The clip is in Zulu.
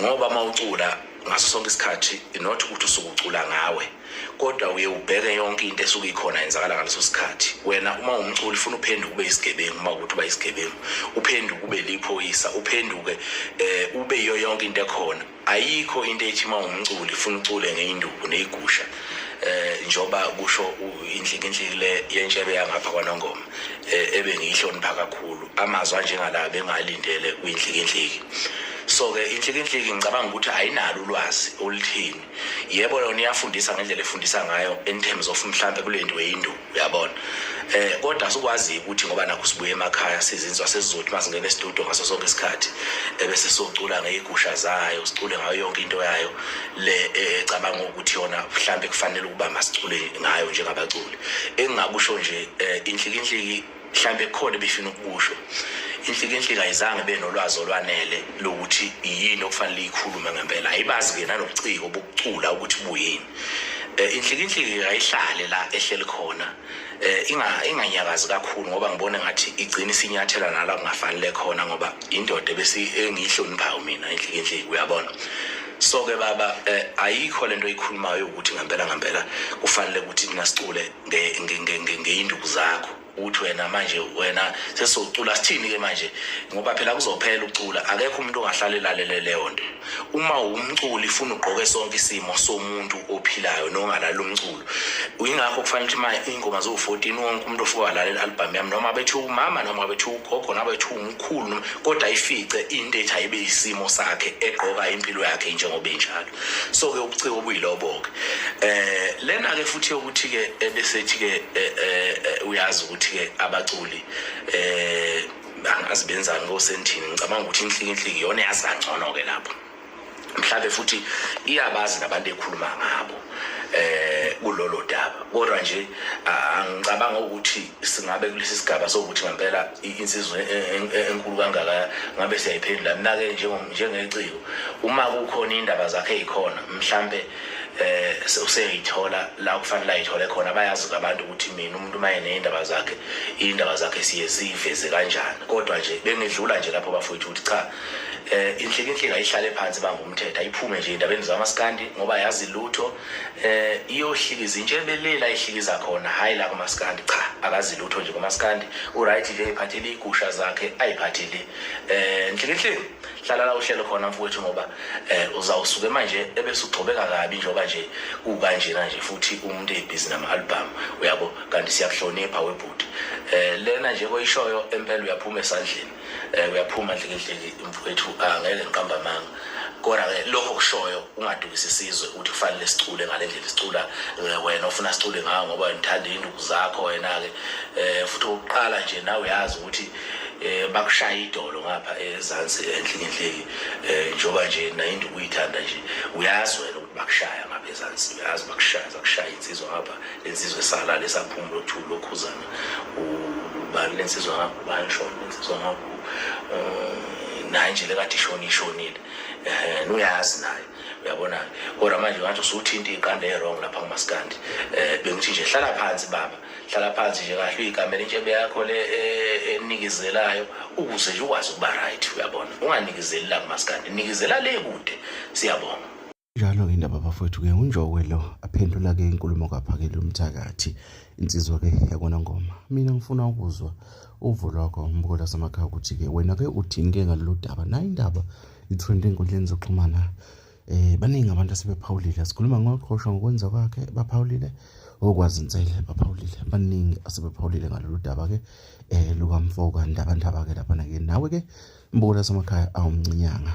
ngoba uma ucula ngaso sonke isikhathi not ukuthi usuke ucula ngawe kodwa uye ubheke yonke into esuke ikhona yenzakala ngaleso sikhathi wena uma umculi funa uphenduke ube isigebengu uma ukuthi uba isigebengu uphenduke ube liphoyisa uphenduke eh ube yiyo yonke into ekhona ayikho into ethi uma umculi funa ucule ngeinduku neyigusha eh njoba kusho inhlikinhliki le yentshebe yangapha kwanongoma eh, ebe ngiyihlonipha kakhulu amazwi anjengala bengalindele kuyinhlikinhliki so-ke inhlikinhliki ngicabanga ukuthi ayinalo ulwazi oluthini yebo yona iyafundisa ngendlela efundisa ngayo in terms of mhlawumbe kule nto yindu uyabona eh kodwa sikwazi ukuthi ngoba nakho sibuye emakhaya sizinzwa sesizothi uma singena estudio ngaso sonke isikhathi ebese socula ngeyigusha zayo sicule ngayo yonke into yayo le eh, ecabanga ukuthi yona mhlawumbe kufanele ukuba masicule ngayo njengabaculi engingakusho nje eh, inhlikinhliki mhlawumbe khona befuna ukusho inhlikinhlika ayizange benolwazi olwanele lokuthi yini okufanele ikhulume ngempela ayibazi ke nanobuciko bokucula ukuthi buyini eh, inhlikinhlika ayihlale la ehleli khona eh, inga inganyakazi kakhulu ngoba ngibona ngathi igcina isinyathela nala kungafanele khona ngoba indoda bese engihloniphayo mina inhlikinhlika uyabona so ke baba eh, ayikho lento ikhulumayo ukuthi ngempela ngempela kufanele ukuthi nasicule ngeyinduku zakho uthi wena manje wena sesizocula sithini ke manje ngoba phela kuzophela ucula akekho umuntu ongahlala elalele leyo nto uma umculi funa ugqoke sonke isimo somuntu ophilayo nongalala umculo uyingakho kufanele ukuthi manje ingoma zo 14 wonke umuntu ofuka walalela album yami noma bethi umama noma bethi ugogo noma bethi umkhulu kodwa ifice into ethi ayibe isimo sakhe egqoka impilo yakhe njengoba injalo so ke ubuciko obuyilobo-ke eh lena-ke futhi yokuthi-ke ebesethi-ke eh, eh, eh, uyazi ukuthi-ke abaculi eh angazi benzani kosendini ngicabanga ukuthi inhliki inhliki iyona eyazi kangcono-ke lapho mhlawumbe futhi iyabazi nabantu ekhuluma ngabo eh kulolo daba kodwa nje angicabanga ukuthi singabe kulesi sigaba sokuthi ngempela insizwa e, e, e, enkulu kangaka ngabe siyayiphendula mina-ke njengeciko uma kukhona iy'ndaba zakhe ey'khona mhlampe eh useyithola la kufanele ayithole khona bayazi abantu ukuthi mina umuntu uma eney'ndaba zakhe iy'ndaba zakhe siye siyiveze kanjani kodwa nje bengidlula nje lapho bafowethu ukuthi cha eh inhlikinhlika ihlale phansi bangumthetho ayiphume nje endabeni zamaskandi ngoba yazi lutho eh iyohlikiza intshe ebelela ihlikiza khona hayi la kumaskandi cha akazi lutho nje kumaskandi uright nje iphathele igusha zakhe ayiphathele eh nhlikihle hlala la uhlelo khona mfowethu ngoba eh uzawusuke manje ebese ugcobeka kabi njengoba nje kukanjena nje futhi umuntu ebhizi nama album uyabo kanti siyakuhlonipha webhuti eh lena nje koyishoyo empela uyaphuma esandleni um uyaphuma ndlekedleke mfowethu angeke ngiqamba amanga kodwa-ke lokho kushoyo ungadukisi isizwe ukuthi kufanele sicule ngale ndlela sicula eh, wena ofuna sicule ngawo ngoba ngithanda iy'nduku zakho wena-ke um futhi okokuqala nje nawe uyazi ukuthi um bakushaya idolo ngapha ezansi enhlikinhliki um njengoba nje nayinduku uyithanda nje uyazi wena ukuthi bakushaya ngapha ezansi uyazi bakushaya zakushaya insizwa ngapha le nsizwe esalale esaphumula othulu lokhuzana ubani lensizwa ngakho ubani shona lensizwa ngakho um naye nje lekade ishoni ishonile um uyazi naye uyabona kodwa manje ngathi usuthinte iqanda e-wrong lapha kumaskandi um eh, bengithi nje hlala phansi baba hlala phansi nje kahle uyigamela intshebe yakho le eh, enikezelayo ukuze nje ukwazi ukuba right uyabona unganikizeli la kumaskandi nikezela le kude siyabonga Njalo indaba bafowethu ke unjokwe lo aphendula ke inkulumo kaphakele umthakathi insizwa ke yakona ngoma mina ngifuna ukuzwa uvo lwakho umbukola samakhaya ukuthi ke wena ke uthini ke ngalolu daba nayo indaba i-trend enkundleni zokuxhumana eh baningi abantu asebephawulile sikhuluma ngoqhosha ngokwenza kwakhe baphawulile okwazi insele baphawulile baningi asebephawulile ngalolu daba ke eh lukamfoka ndaba ndaba ke lapha ke nawe ke mbukola samakhaya awumncinyanga